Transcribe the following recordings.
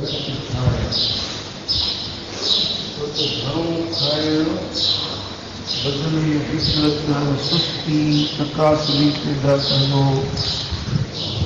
گهٽ کائڻ، ڇو ته گهڻو کائڻ بدن ۾ ڪسرت، سستي، تقاصري پيدا ڪندو.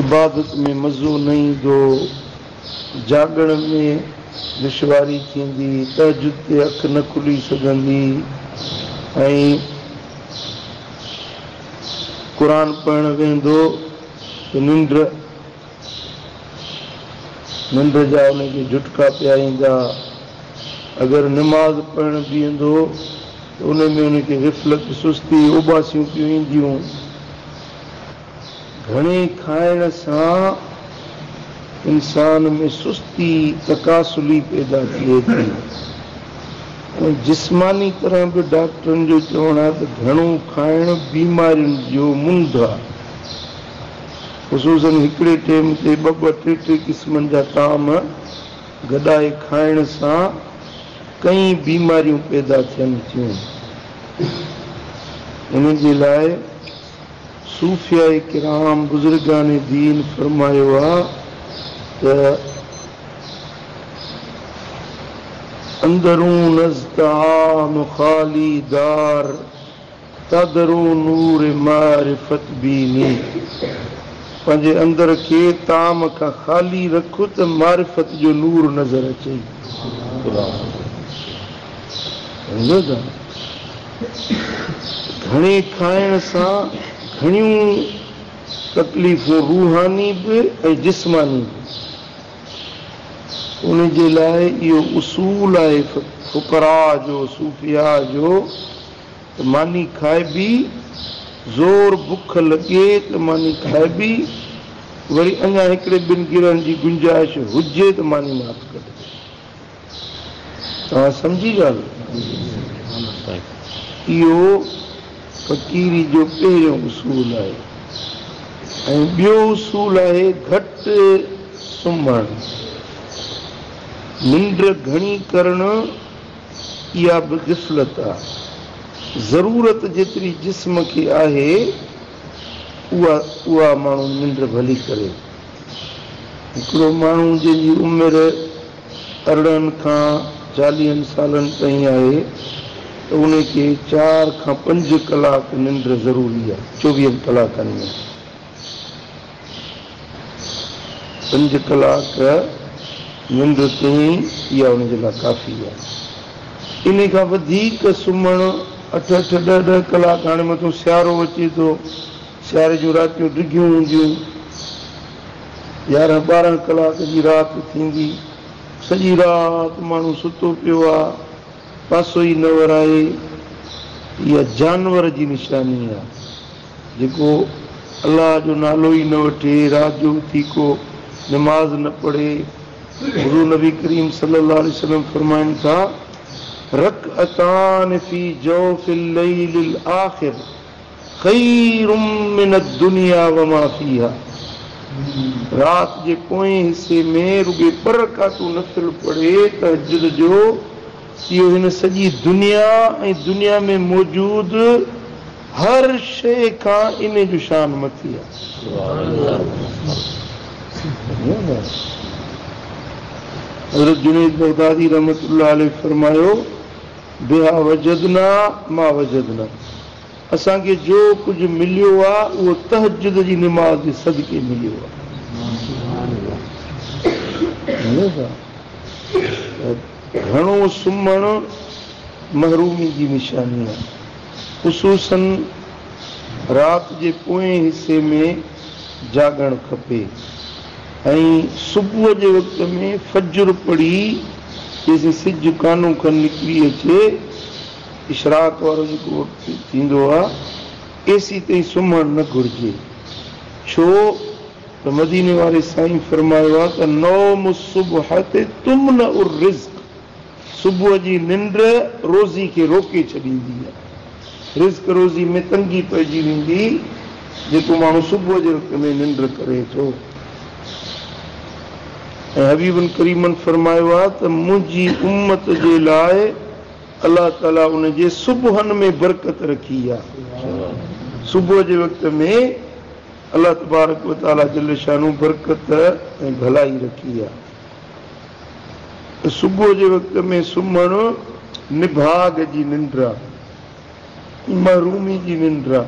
عبادت ۾ مزو نه ايندو، جاڳڻ ۾ دشواري ٿيندي، تهجد تي اک نه کلي سگهندي ۽ قرآن پڙهڻ ويهندو ته ننڊ. ننڊ جا ان کي جهٽڪا پيا ايندا. اگر نماز پڙهڻ بيهندو ته ان ۾ ان کي غفلت، سستي، اوٻاسيون پيون اينديون. گهڻي کائڻ سان انسان ۾ سستي، تڪاسلي پيدا ٿئي ٿي ۽ جسماني طرح به ڊاڪٽرن جو چوڻ آهي ته گهڻو کائڻ بيمارين جو منڍ آهي. خصوصن هڪڙي ٽيم تي ٻه ٻه ٽي ٽي قسمن جا طعام گڏائي کائڻ سان ڪئين بيماريون پيدا ٿين ٿيون. ان جي لاء صوفياء ڪرام بزرگان دين فرمايو آ ته اندرون از طعام خالي دار. تدرون نور معرفت بيني، پنهنجي اندر کي طعام کان خالي رک ته معرفت جو نور نظر اچئي. سمجهيو ٿا؟ گهڻي کائڻ سان گهڻيون تڪليفون روحاني به ۽ جسماني به. ان جي لاء اهو اصول آهي فقراء جو، صوفياء جو. ته ماني کائبي، زور بک لڳي ته ماني کائبي، وري اڃا هڪڙي ٻن گرهن جي گنجائش هجي ته ماني نه هٿ ڪڍبي. توهان سمجهي ڳالهه؟ اهو فقيري جو پهريون اصول آهي ۽ ٻيو اصول آهي گهٽ سمهڻ، ننڊ گهڻي ڪرڻ. اها به غفلت آ. ضرورت جيتري جسم کي آهي اها اها ماڻهو ننڊ ڀلي ڪري. هڪڙو ماڻهو جنهن جي عمر ارڙهن کان چاليهن سالن تائين آهي ته ان کي چار کان پنج ڪلاڪ ننڊ ضروري آ چوويهن ڪلاڪن ۾. پنج ڪلاڪ ننڊ تائين ئي اها ان جي لاء ڪافي آهي. انهي کان وڌيڪ سمهڻ اٺ اٺ ڏهه ڏهه ڪلاڪ هاڻي مٿو سيارو اچي ٿو سياري جون راتيون ڊگهيون هونديون يارهن ٻارهن ڪلاڪ جي رات ٿيندي سڄي رات ماڻهو ستو پيو آهي پاسو ئي نه ورائي اها جانور جي نشاني آهي. جيڪو الله جو نالو ئي نه وٺي، رات جو اٿي ڪو نماز نه پڙهي، حضور نبي ڪريم صلي الله عليه وسلم فرمائن ٿا، رڪعتان في جوف الليل الاخر خير من الدنيا وما فيها رات جي پوئين حصي ۾ رڳي ٻه رڪعتون نفل پڙهي، تهجد جو، اهو هن سڄي دنيا ۽ دنيا ۾ موجود. هر شيء کان انهي جو شان مٿي آهي. حضرت جنيد بغدادي رحمة الله عليه فرمايو، بها وجدنا ما وجدنا، اسان کي جو ڪجهه مليو آ اهو تهجد جي نماز جي صدقي مليو آ. گهڻو سمهڻ محرومي جي نشاني آهي. خصوصن رات جي پوئين حصي ۾ جاڳڻ کپي ۽ صبح جي وقت ۾ فجر پڙهي جيسين سج ڪانو کن نڪري اچي اشراق وارو جيڪو وقت ٿيندو آهي ايسي تائين سمهڻ نه گهرجي ڇو ته مديني واري سائين فرمايو آهي ته نوم الصبحة تمنع الرزق. صبح جي ننڊ روزي کي روڪي ڇڏيندي. رزق روزي ۾ تنگي پئجي ويندي، جيڪو ماڻهو صبح جي وقت ۾ ننڊ ڪري ٿو. ۽ حبيبن ڪريمن فرمايو آهي ته منهنجي امت جي لاء الله تعالي ان جي صبحن ۾ برڪت رکي آهي. صبح جي وقت ۾ الله تبارڪ وتعالي جل شانه برڪت ۽ ڀلائي رکي آهي. صبح جي وقت ۾ سمهڻ نڀاڳ جي ننڊ آ، محرومي جي ننڊ آ.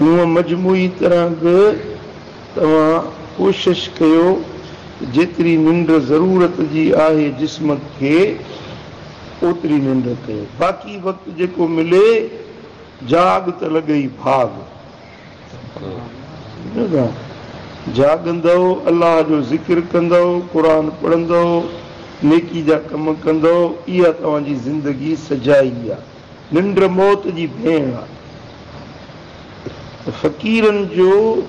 هونء مجموعي طرح به توهان ڪوشش ڪيو ته جيتري ننڊ ضرورت جي آهي جسم کي اوتري ننڊ ڪيو. باقي وقت جيڪو ملي جاڳ ته لڳئي ڀاڳ. جاڳندؤ، الله جو ذڪر ڪندؤ، قرآن پڙهندؤ، نيڪي جا ڪم ڪندؤ، اها توهان جي زندگي سجائي آ. ننڊ موت جي ڀيڻ آ. فقيرن جو،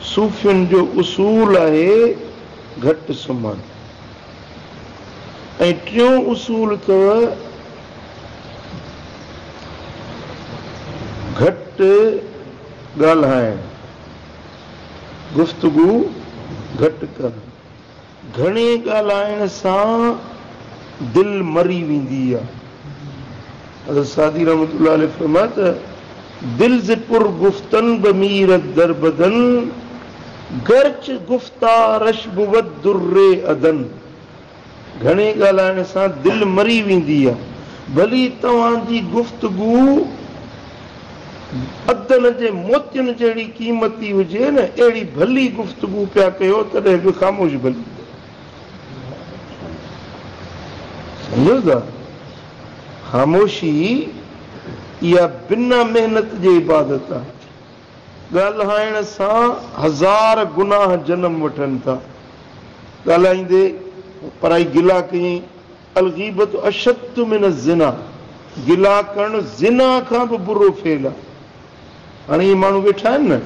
صوفين جو اصول آهي، گهٽ سمهڻ. ۽ ٽيون اصول ته گهٽ ڳالهائڻ، گفتگو گهٽ ڪر، گهڻي ڳالهائڻ سان دل مري ويندي آهي. حضرت سعدي رحمة الله عليه فرمايو ته، دل ز پر گفتن به ميرد در بدن، گرچ گفتارش بود در عدن. گهڻي ڳالهائڻ سان دل مري ويندي آهي، ڀلي توهان جي گفتگو عدن جي موتين جهڙي قيمتي هجي نه اهڙي ڀلي گفتگو پيا ڪيو تڏهن به خاموش ڀلي. خاموشي ئي اها بنا محنت جي عبادت آهي. ڳالهائڻ سان هزار گناهه جنم وٺن ٿا. ڳالهائيندي پرائي گلا ڪيائين، الغيبة اشد من الزنا، گلا ڪرڻ زنا کان به برو فعل آهي. هاڻي اهي ماڻهو ويٺا آهن نه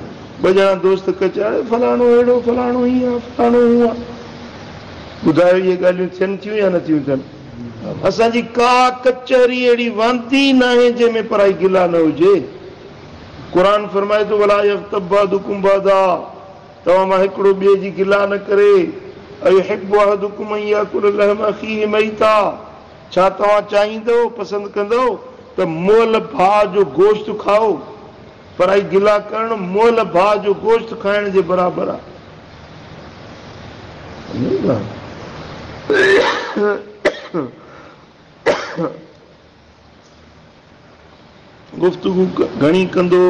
ٻه ڄڻا دوست ڪچ اڙي فلاڻو اهڙو فلاڻو هيئن آهي فلاڻو هونء آهي ٻڌايو اهي ڳالهيون ٿين ٿيون يا نه ٿيون ٿين. اسان جي ڪا ڪچهري اهڙي واندي ئي ناهي جنهن ۾ پرائي گلا نه هجي. قرآن فرمائي ٿو ولا يغتب بعضڪم بعضا توهان مان هڪڙو ٻئي جي گلا نه ڪري ايحب احدڪم ان ياڪل لحم اخيه ميتا ڇا توهان چاهيندؤ، پسند ڪندؤ، ته مئل ڀاء جو گوشت کائو؟ پر اهي گلا ڪرڻ مئل ڀاء جو گوشت کائڻ جي برابر آهي. گفتگو گهڻي ڪندو،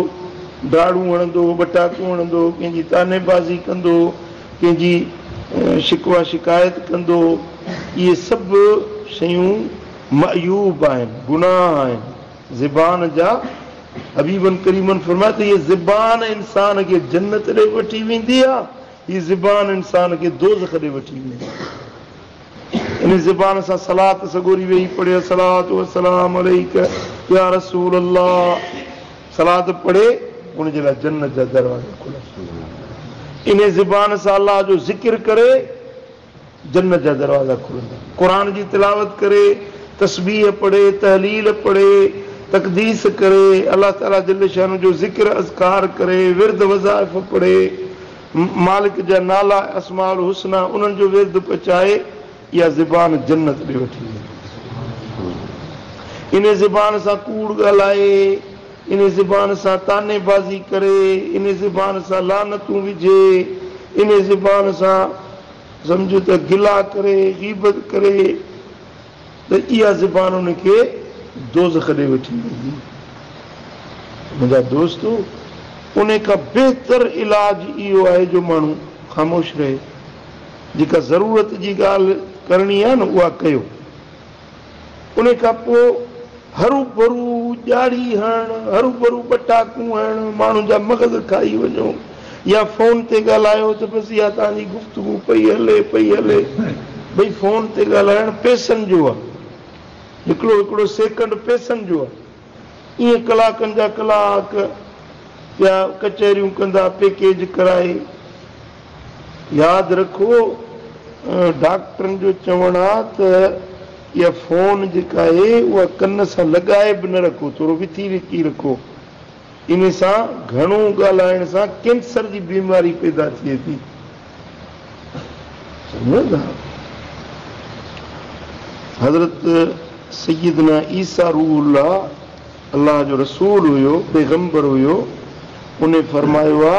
ڊاڙون هڻندو، ٻٽاڪون هڻندو، ڪنهن جي طعني بازي ڪندو، ڪنهن جي شڪوه شڪايت ڪندو، اهي سڀ شيون معيوب آهن، گناهه آهن، زبان جا حبيبن ڪريمن فرمايو ته هيء زبان انسان کي جنت ڏي وٺي ويندي آهي، هيء زبان انسان کي دوزخ ڏي وٺي ويندي آهي. ان زبان سان صلات سڳوري ويهي پڙهي الصلوة والسلام عليك يا رسول الله صلات پڙهي ان جي لاء جنت جا دروازا کلن ٿا ان زبان سان الله جو ذڪر ڪري جنت جا دروازا کلن ٿا قرآن جي تلاوت ڪري تسبيح پڙهي تحليل پڙهي تقديس ڪري الله تعالي جل شانه جو ذڪر اذڪار ڪري ورد وظائف پڙهي مالڪ جا نالا ۽ اسماء الحسنيٰ انهن جو ورد پچائي اها زبان جنت ڏي وٺي ويندي. انهي زبان سان ڪوڙ ڳالهائي، انهي زبان سان طعني بازي ڪري، انهي زبان سان لعنتون وجهي، انهي زبان سان سمجهه ته گلا ڪري، غيبت ڪري، ته اها زبان انهن کي دوزخ ڏي وٺي ويندي. منهنجا دوستو! انهي کان بهتر علاج اهو آهي جو ماڻهو خاموش رهي. جيڪا ضرورت جي ڳالهه ڪرڻي آهي نه اها ڪيو. انهي کان پوء. هروڀرو ڄاڙي هڻڻ، هروڀرو ٻٽا ڪونهڻ، ماڻهن جا مغز کائي وڃو يا فون تي ڳالهايو ته بس اها توهان جي گفتگو پئي هلي پئي هلي. ڀئي فون تي ڳالهائڻ پئسن جو آهي. هڪڙو هڪڙو سيڪنڊ پئسن جو آهي. ايئن ڪلاڪن جا ڪلاڪ پيا ڪچهريون ڪندا پيڪيج ڪرائي ياد رکو ڊاڪٽرن جو چوڻ آ ته اها فون جيڪا آهي اها ڪن سان لڳائي به نه رکو ٿورو وٿي وڪي رکو ان سان گهڻو ڳالهائڻ سان ڪينسر جي بيماري پيدا ٿئي ٿي سمجهو ٿا حضرت سيدنا عيسيٰ روح الله الله جو رسول هيو پيغمبر هيو ان فرمايو آ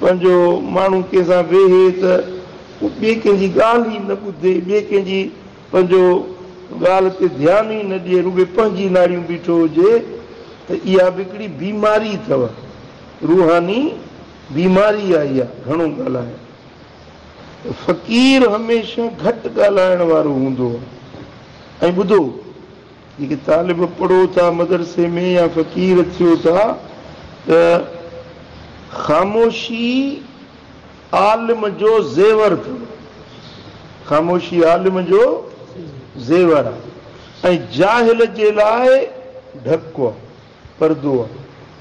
پنهنجو ماڻهو ڪنهن سان ويهي ته هو ٻئي ڪنهن جي ڳالهه ئي نه ٻڌي، ٻئي ڪنهن جي پنهنجو ڳالهه تي ڌيان ئي نه ڏئي، رڳو پنهنجي ناڙيون بيٺو هجي ته اها به هڪڙي بيماري اٿو، روحاني بيماري آهي اها گهڻو ڳالهائڻ. فقير هميشه گهٽ ڳالهائڻ وارو هوندو هو ۽ ٻڌو. جيڪي طالب پڙهو ٿا مدرسي ۾ يا فقير ٿيو ٿا ته خاموشي عالم جو زيور اٿم خاموشي عالم جو زيور آ ۽ جاهل جي لاء ڍڪ آ. پردو آ.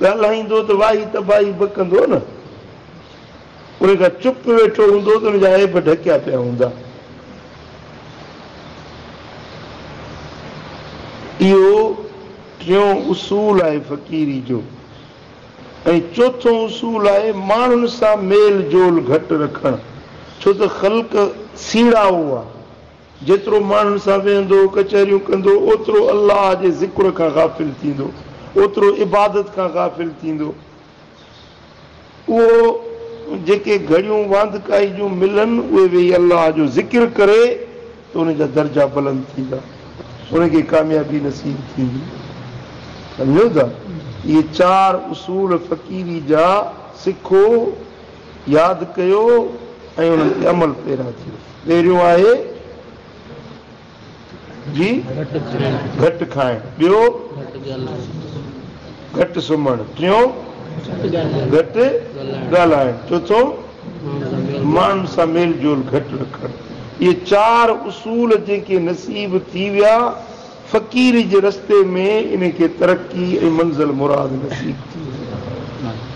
ڳالهائيندو ته واهي تباهي بکندو نه. انهي کان چپ ويٺو هوندو ته ان جا عيب ڍڪيا پيا هوندا. اهو ٽيون اصول آهي فقيري جو ۽ چوٿون اصول آهي ماڻهن سان ميل جول گهٽ رکڻ ڇو ته خلق سيڙائو آ. جيترو ماڻهن سان ويهندو، ڪچهريون ڪندو، اوترو الله جي ذڪر کان غافل ٿيندو، اوترو عبادت کان غافل ٿيندو. اهو جيڪي گهڙيون واندڪائي جون ملن، اهي ويهي الله جو ذڪر ڪري ته ان جا درجا بلند ٿيندا، ان کي ڪاميابي نصيب ٿيندي. سمجهيو ٿا؟ اهي چار اصول فقيري جا سکو ياد ڪيو ۽ انهن تي عمل پيرا ٿيو. پهريون آهي جي گهٽ کائڻ، ٻيو گهٽ سمهڻ، ٽيون گهٽ ڳالهائڻ، چوٿون ماڻهن سان ميل جول گهٽ رکڻ. اهي چار اصول جيڪي نصيب ٿي ويا. فقيري جي رستي ۾ انهن کي ترقي ۽ منزل مراد نصيب ٿي ويندي.